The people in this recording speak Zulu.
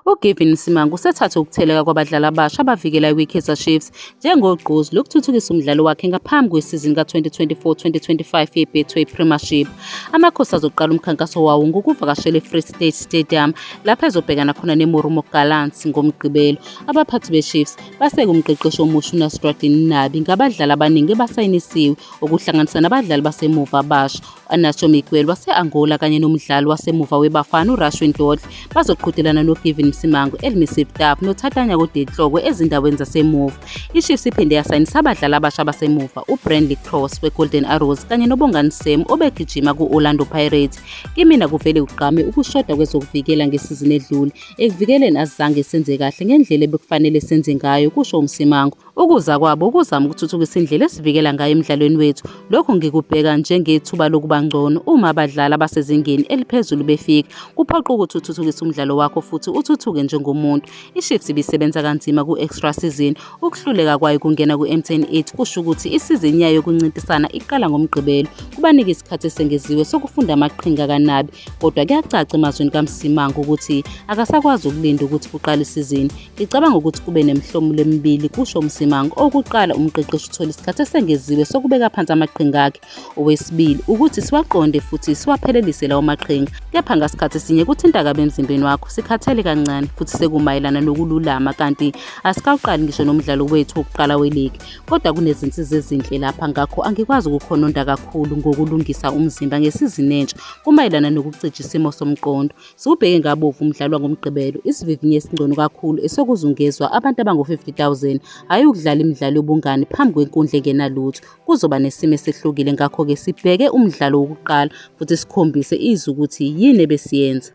UGavin Msimangu usethathe ukutheleka kwabadlali abasha abavikela iWikaizer Chiefs njengogqozi lokuthuthukisa umdlalo wakhe ngaphambi kwesizini ka-2024-2025 yeBetway Premiership. Amakhosi azoqala umkhankaso wawo ngokuvakashela eFree State Stadium lapho ezobhekana khona neMoromo Gallants ngoMgqibelo. Abaphathi beChiefs baseke umqeqeshi omusha uNasruddin Nabi ngabadlali abaningi ebasayinisiwe okuhlanganisa nabadlali basemuva abasha Anacho Miguel wase-Angola kanye nomdlali wasemuva weBafana uRashwin Dodle bazoqhudelana noGavin Msimango, Elmisi Vtap noThatanya Kodetlokwe ezindaweni zasemuva. IChiefs iphinde yasayinisa abadlali abasha basemuva uBrandley Cross weGolden Arrows kanye noBongani Sam obegijima ku-Orlando Pirates. Kimina kuvele kugqame ukushoda kwezokuvikela ngesizini edlule. Ekuvikeleni azange senze kahle ngendlela ebekufanele senze ngayo, kusho uMsimango. Ukuza kwabo kuzama ukuthuthukisa indlela esivikela ngayo emidlalweni wethu. Lokhu ngikubheka njengethuba lokuba ngcono uma abadlali abasezingeni eliphezulu befika. Kuphoqa ukuthi uthuthukise umdlalo wakho futhi uthuthuke njengomuntu. IShift ibisebenza kanzima ku-extra season. Ukuhluleka kwayo kungena ku-M10 8 kusho ukuthi isizini yayo yokuncintisana iqala ngoMgqibelo. Kubanika isikhathi esengeziwe sokufunda amaqhinga kanabi. Kodwa kuyacaca emazwini kaMsimango ukuthi akasakwazi ukulinda ukuthi kuqale isizini. Ngicabanga ukuthi kube nemihlomulo emibili, kusho uMsimang. Okuqala, umqeqeshi uthola isikhathi esengeziwe sokubeka phansi amaqhinga akhe. Owesibili, ukuthi siwaqonde futhi siwaphelelise lawo maqhinga. Kepha ngasikhathi sinye kuthinta kabi emzimbeni wakho, sikhathele kancane futhi sekumayelana nokululama kanti asikawuqali ngisho nomdlalo wethu wokuqala weligi. Kodwa kunezinsiza ezinhle lapha ngakho angikwazi ukukhononda kakhulu ngokulungisa umzimba ngesizini entsha kumayelana nokucija isimo somqondo. Siwubheke ngabovu umdlalo wangoMgqibelo, isivivinyo esingcono kakhulu esokuzungezwa abantu abangu-50,000, hhayi ukudlala imidlalo yobungani phambi kwenkundla engenalutho. Kuzoba nesimo esehlukile ngakho-ke sibheke umdlalo wokuqala futhi sikhombise izwe ukuthi yini ebesiyenza.